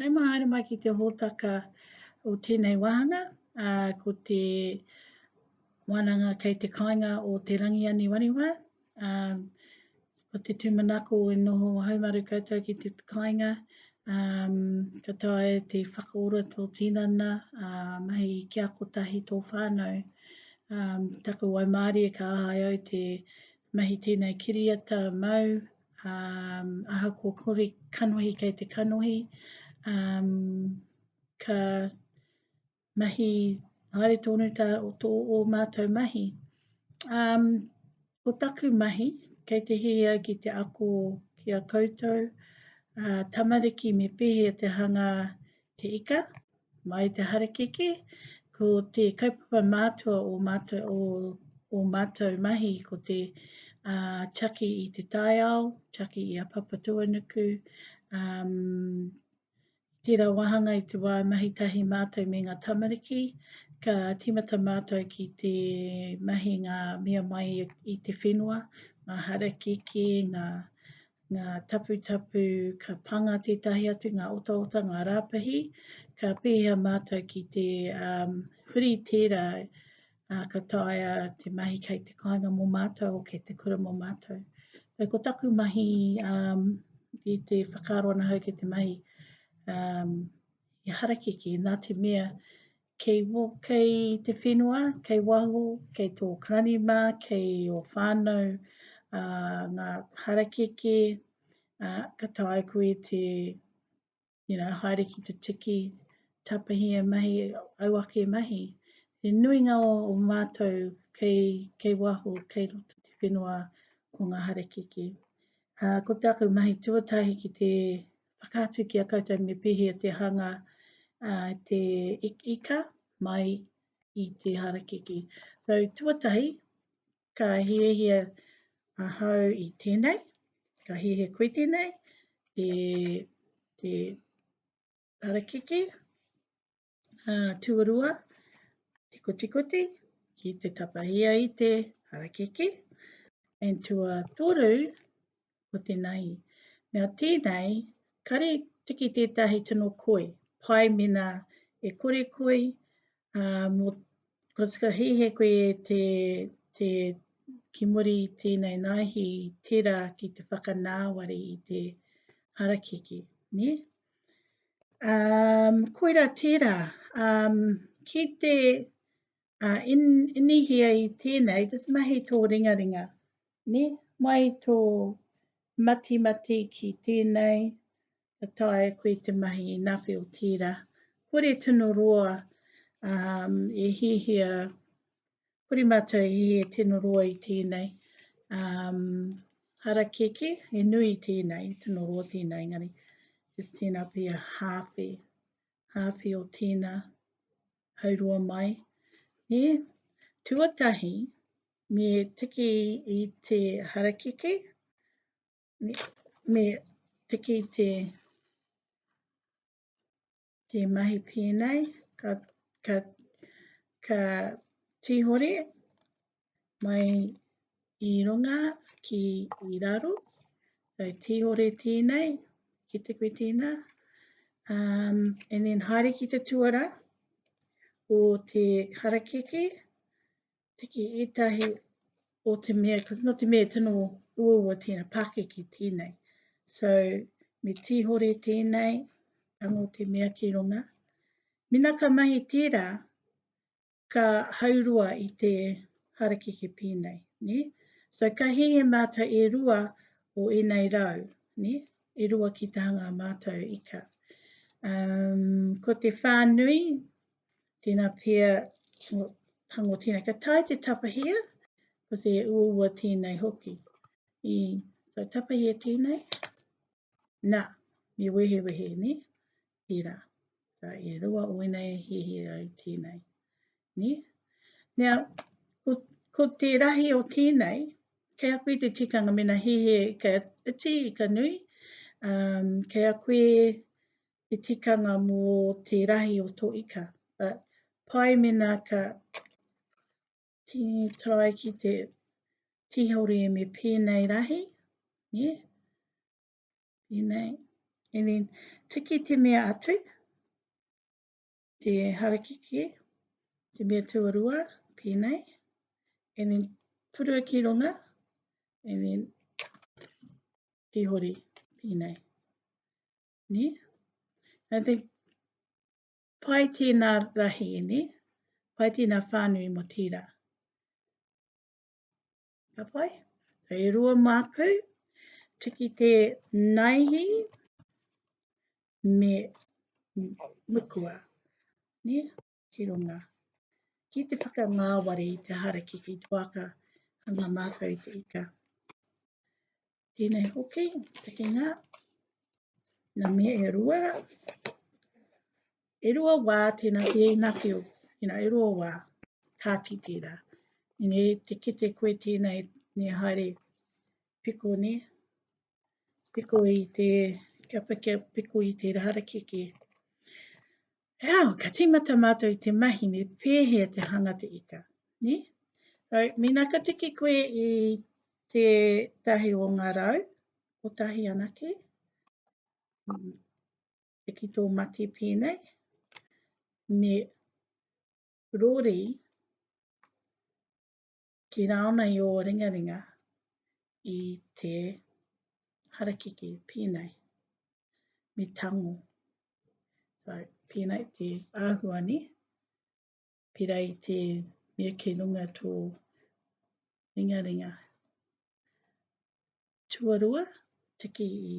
Nei mā haere mai ki te hōtaka o tēnei wāhanga, ko te wānanga kei te kāinga o Te Rangianiwaniwa. Ko te tūmanako e noho haumaru koutou ki te kāinga, ka taea te whakaora tō tinana, mahi kia kotahi tō whānau. Taku wai mārie ka āhei au te mahi tēnei kiriata, mau, Um, ahakoa kore kanohi kei te kanohi, um, ka mahi haere tonu tā tō o mātou mahi. Um, ko taku mahi, kei te hī au ki te ako ki a koutou, uh, tamariki me pēhea te hanga te ika. Mai te harakeke, ko te kaupapa mātua o mātou, o, o mātou mahi, ko te uh, taki i te taiao, taki i a Papatūanuku, um, tērā wāhanga i te wā mahi tahi mātou me ngā tamariki, ka tīmata mātou ki te mahi ngā mea mai i te whenua, ngā harakeke, ngā ngā taputapu, ka panga tētahi atu ngā otaota, ngā rāpahi, ka pēhea mātou ki te um, huri tērā uh, ka taea te mahi kei te kāinga mō mātou o kei te kura mō mātou. Tau ko taku mahi um, i te whakaaro anahau ki te mahi um, i harakeke, nā te mea Kei wo, kei te whenua, kei waho, kei tō Karanima, kei ō whānau, ā, ngā harakeke, ā, ka taea koe te, you know, haere ki te tiki, tapahi e mahi, au ake e mahi. He nuinga o, o mātou kei, kei waho, kei roto te whenua, ko ngā harakeke. Ā, ko tāku mahi tuatahi ki te whakaatu ki a koutou me pēhea te hanga uh, te ika mai i te harakeke. So tuatahi, ka hiahia ahau i tēnei, ka hiahia koe tēnei, te, te harakeke, Uh, tuarua, te kotikoti, ki te tapahia i te harakeke. And tua toru, ko te nahi. Now tēnei, kare tiki tētahi tino koi, pai mena e kore koi, uh, mo, ko tika hihe koe e te, te ki muri i tēnei nahi tera ki te whakanāwari i te harakeke. Ne? Um, koira tērā. Um, ki te uh, in, inihia i tēnei, just mahi tō ringaringa. Ne? Mai tō matimati ki tēnei, ka tae koe te mahi i nawhi o tērā. Kore tino roa um, e hihia Huri mātou i e tino roa i tēnei, um, harakeke, he nui i tēnei, i tino roa tēnei, engari, just tēnā pia hāwhi, hāwhi o tēnā, hauroa mai, e, tuatahi, me tiki i te harakeke, me, me tiki i te te mahi pēnei, ka, ka, ka tīhore mai i runga ki i raro. So tīhore tēnei, ki te koe tēnā. Um, and then haere ki te tuara o te harakeke, Tiki etahi o te mea, because no te mea tino uaua tēnā, pākeke tēnei. So, me tīhore tēnei, tango te mea ki runga. Mina ka mahi tērā, ka haurua i te harakeke pēnei. Ne? So, ka hehe mātou e rua o ēnei rau, ne? e rua ki te hanga mātou ika. Um, ko te whānui, Tēnā pea, o, tango tēnā, kia tae te tapahia, ko te uaua tēnei hoki. I, so tapahia tēnei, nā, me wehewehe, ne, tērā. So e rua o enei hehe au tēnei. Ne? Now, ko, ko te rahi o tēnei, kei aku i te tikanga mena hehe ka iti, ka nui, um, kei aku e te tikanga mō te rahi o tō ika. But pai mena ka ti try ki te tihore me pēnei rahi, yeah. pēnei. And then, tiki te mea atu, te harakeke, te mea tuarua, pēnei. And then, purua ki runga, and then, tihore, pēnei. ne? I think, pai tēnā rahi, ne? Pai tēnā whānui mo tērā. Ka pai? So, e rua māku, tiki te naihi me mukua, ne? ki runga. Ki te whakangāwari i te harakeke i te waka, hanga mātou i te ika. Tēnei hoki, takinga, na me e rua, e rua wā tēnā te ina whiu, you know, e rua wā, kāti tērā. Nē, te kete koe tēnei, nē haere, piko nē, piko i te, kia pai kia piko i te rārakeke. How, ka tīmata mātou i te mahi me pēhea te hanga te ika, ne? So, mena ka tiki koe i te tahi o ngā rau, o tahi anake, e ki tō mate pēnei, me rori, Ki rāona i ō ringaringa i te harakeke pēnei, me tango. So, pēnei te āhua ne, pera i te mea kei runga tō ringaringa. Tuarua, tiki i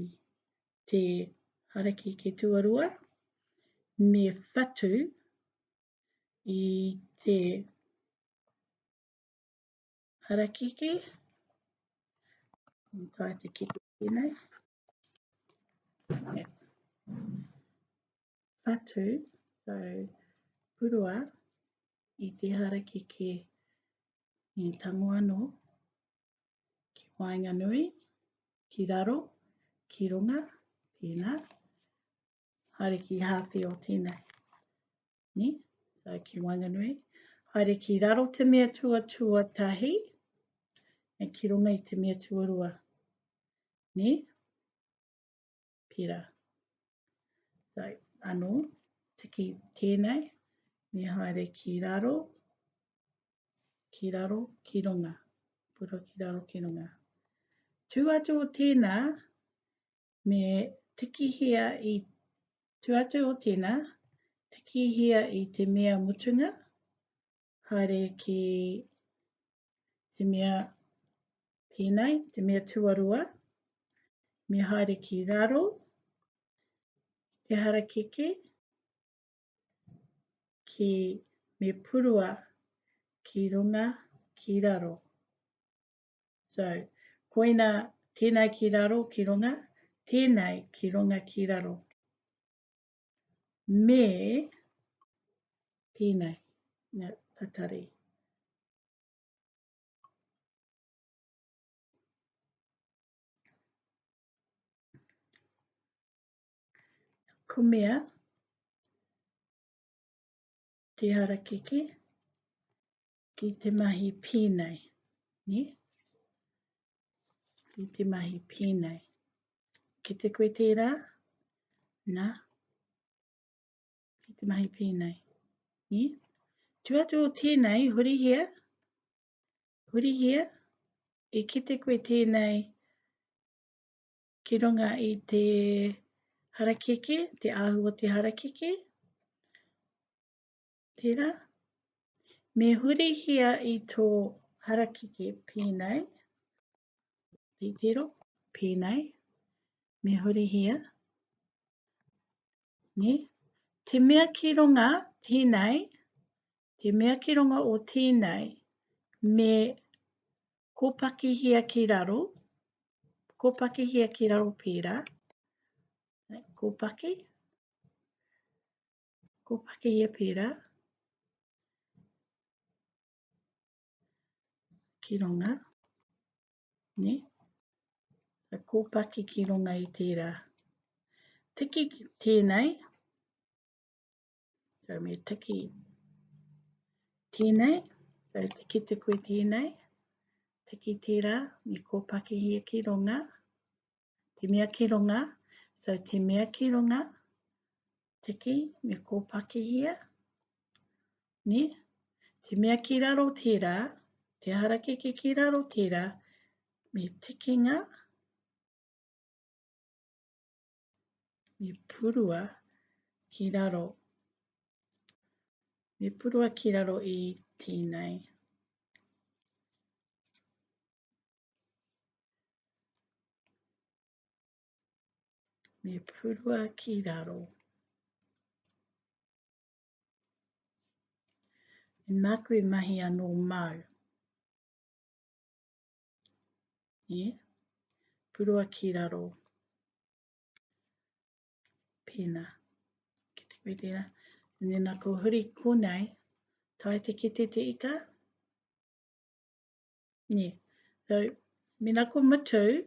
te harakeke tuarua, me whatu i te harakeke, i tā te kite tēnei, yeah. patu, so purua i te harakeke i tango anō ki waenganui, ki raro, ki runga, tēnā, Haere ki Hāwhi o tēnei. Ni? So ki Waenganui. Haere ki raro te mea tuatua tahi, e ki runga i te mea tuarua. Ni? Pira. So, ano, te ki tēnei, me haere ki raro, ki raro, ki runga. Pura ki raro, ki runga. Tū atu o tēnā, Me tikihia i tu atu o tena, tikihia i te mea mutunga, haere ki te mea penei, te mea tuarua, me haere ki raro, te harakeke, ki me purua ki runga, ki raro. So, koina tēnei ki raro, ki runga, tēnei ki runga ki raro. Me tēnei, no, tatari. Kumea, te harakeke, ki te mahi pīnei, nē? Ki te mahi pīnei. Kite koe tērā? Nā, ki te mahi pīnei, nē? Tu atu o tēnei, hurihia, hurihia, e kite koe tēnei ki runga i te harakeke, te ahu o te harakeke, Tērā. Me hurihia i tō harakeke pēnei, titiro, pēnei, me hurihia, ne? Te mea ki runga tēnei, te mea ki runga o tēnei, me kopakihia ki raro, kopakihia ki raro pērā, kopaki, Ko Pakehia pērā ki runga, nē? Ko Paki ki runga i tērā. Tiki ki tēnei, tau me tiki tēnei, tau tiki te koe tēnei, tiki tērā, me ko pakihia ki runga, te mea ki runga, so te mea ki runga, tiki, me kōpakihia, ne, te mea ki raro tērā, te harakeke ki raro tērā, me tikinga, me purua ki raro, me purua ki raro i tēnei. Me purua ki raro. E nāku i mahi anō māu. E, purua ki raro. Pēnā. Ki te koe tērā. Nena ko huri konei. Tae te kete te ika. Yeah. So, mena ko mutu,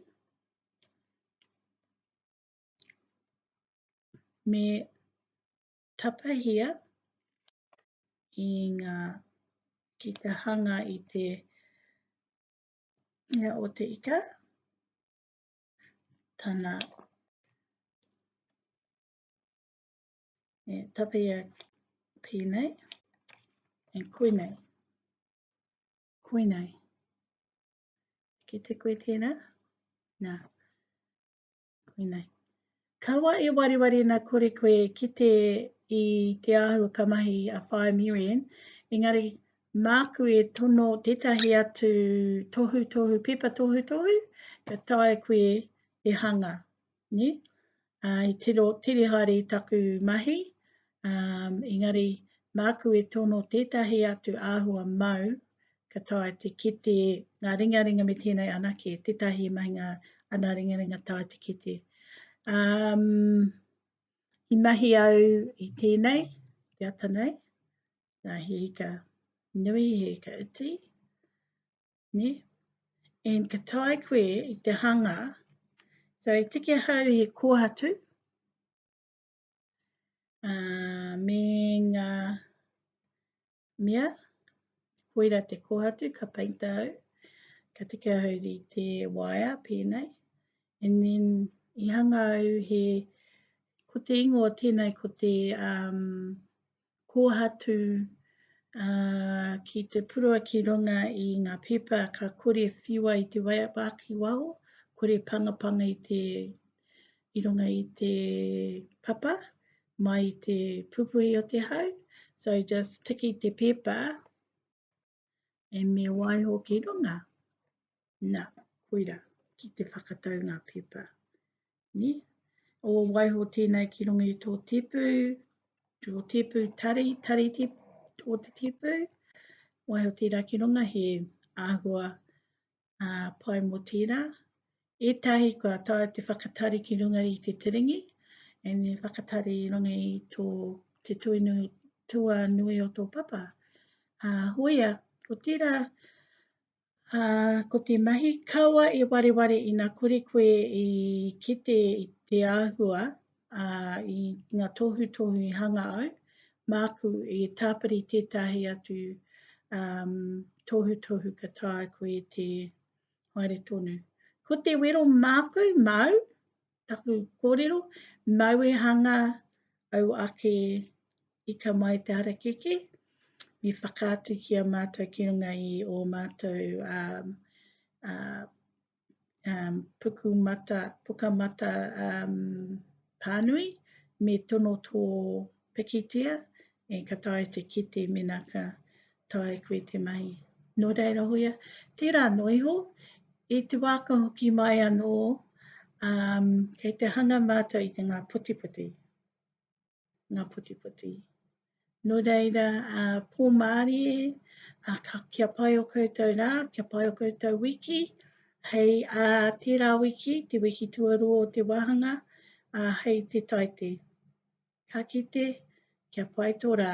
me tapahia i ngā ki te hanga i te ia o te ika, tana e tapahia pēnei, e koinei. Koinei. Ki te koe tēnā. Nā. Koinei. Kaua e wareware na kore koe ki te i te āhua ka mahi a Whaea Mirian, engari māku e tono tētahi atu tohutohu, pepa tohutohu, ka taea koe e hanga. Nē? Ā, i tiro tere haere i taku mahi, ā, engari māku e tono tētahi atu āhua māu ka taea te kite ngā ringaringa me tēnei anake, tētahi mahinga ana ringaringa taea te kite. Um, i mahi au i tēnei, te ata nei, nā he ika nui, he ika iti, nē, and ka tae koe i te hanga, so i tiki ahau i he kōhatu, uh, me ngā mea, koira te kōhatu, ka painta au, ka tiki ahau i te waea pēnei, and then i hanga au he, ko te ingoa tēnei ko te um, kōhatu ā, ki te purua ki runga i ngā pepa ka kore whiua i te waiapaaki waho, kore pangapanga i te i runga i te papa mai i te pupuhi o te hau, so just tiki te pepa, e me waiho ki runga, na, koira, ki te whakatau ngā pepa. Ne? O waiho tēnei ki runga i tō tipu, tō tipu tari, tari tipu, tō te tipu, waiho tērā ki runga he āhua pai mō tērā. Ētahi kua taea te whakatari ki runga i te terengi, and then whakatari i runga i tō te tuinu, tua nui o tō papa. Uh, hoia, ko tērā, uh, ko te mahi kawa e wareware ina kore koe i kete i te āhua ā, i ngā tohutohu i hanga au, māku e tāpiri tētahi atu um, tohutohu ka taea koe te haere tonu. Ko te wero māku, mau, taku kōrero, mau e hanga au ake i ka mai te harakeke, mi whakaatu ki a mātou ki runga i o mātou um, uh, um, puku mata, puka mata um, pānui, me tono tō pikitia, e ka tae te kite mena ka tae koe te mahi. Nō reira hoia, tērā anō iho, i te wā ka hoki mai anō, um, kei te hanga mātou i te ngā putiputi. ngā putiputi. Nō reira, uh, pōmārie, uh, ka, kia pai o koutou rā, kia pai o koutou wiki, hei a uh, tērā wiki, te wiki tuarua o te wāhanga, uh, hei te taite. Ka kite, kia pai tō rā.